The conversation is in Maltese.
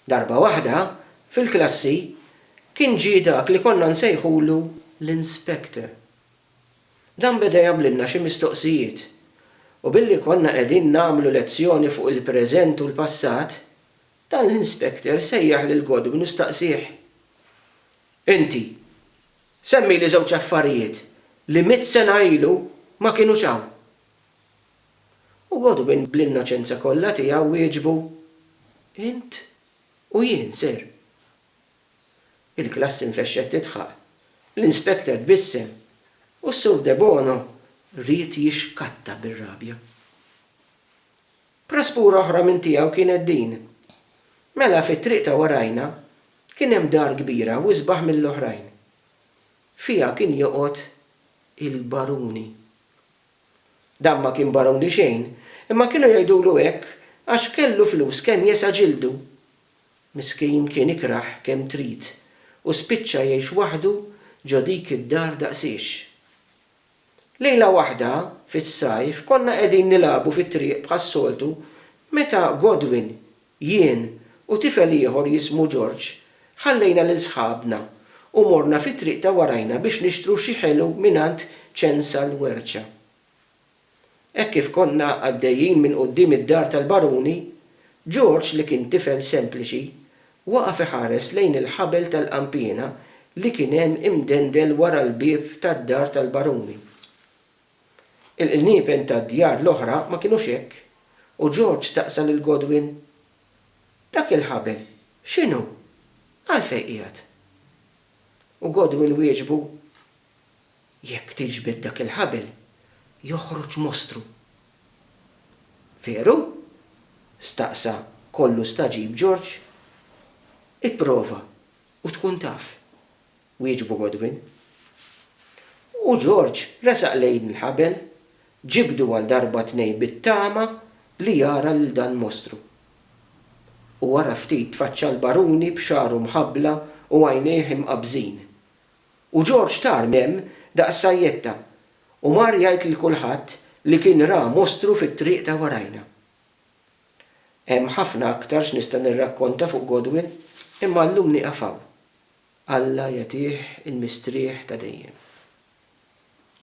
Darba waħda, fil-klassi, kien ġie dak li konna nsejħulu l-inspector. Dan beda jagħmlilna xi mistoqsijiet, u billi konna qegħdin nagħmlu lezzjoni fuq il-preżent u l-passat, dan l-inspector sejjaħ lil Godwin u staqsieh, Inti, semmili żewġ affarijiet li mitt sena ilu ma kinux hawn. U Godwin bl-innoċenza kollha tiegħu wieġbu, Int u jien, sir. Il-klassi nfexxet tidħaq, l-inspector tbissem, u s-Sur Debono ried jixkatta bir-rabja. Praspura oħra minn tiegħu kienet din, Mela fit-triq ta' warajna kien hemm dar kbira u isbaħ mill-oħrajn. Fiha kien joqgħod il-Baruni. Dan ma kien baruni xejn, imma kienu jgħidulu hekk għax kellu flus kemm jesa' ġildu. Miskin kien ikrah kemm trid u spiċċa jgħix waħdu ġo dik id-dar daqsiex. Lejla waħda fis-sajf konna qegħdin nilagħbu fit-triq bħas-soltu meta Godwin Jien u tifel ieħor jismu George ħallejna lil sħabna u morna fit-triq ta' warajna biex nixtru xi ħelu mingħand Ċensa l-Werċa. Hekk kif konna għaddejjin minn quddiem id-dar tal-baruni, George li kien tifel sempliċi waqaf iħares lejn il-ħabel tal-qanpiena li kien hemm imdendel wara l-bieb tad-dar tal-baruni. Il-qniepen tad-djar l-oħra ma kinux hekk, u George staqsa lil Godwin, Dak il-ħabel x'inhu? Għalfejn qiegħed? U Godwin wieġbu, Jekk tiġbed dak il-ħabel, joħroġ mostru. Veru? staqsa kollu stagħġib George. Ipprova u tkun taf. wieġbu Godwin. U Ġorġ resaq lejn il-ħabel, ġibdu għal darba tnejn bit-tama li jara lil dan mostru. U wara ftit tfaċċa l-baruni b'xagħru mħabbla u għajnejh imqabżin. U Ġorġ tar m'hemm daqs sajjetta u mar jgħid lil kulħadd li kien ra mostru fit-triq ta' warajna. Hemm ħafna aktar x'nista' nirrakkonta fuq Godwin, imma llum nieqaf hawn. Alla jagħtih il-mistrieħ ta' dejjem.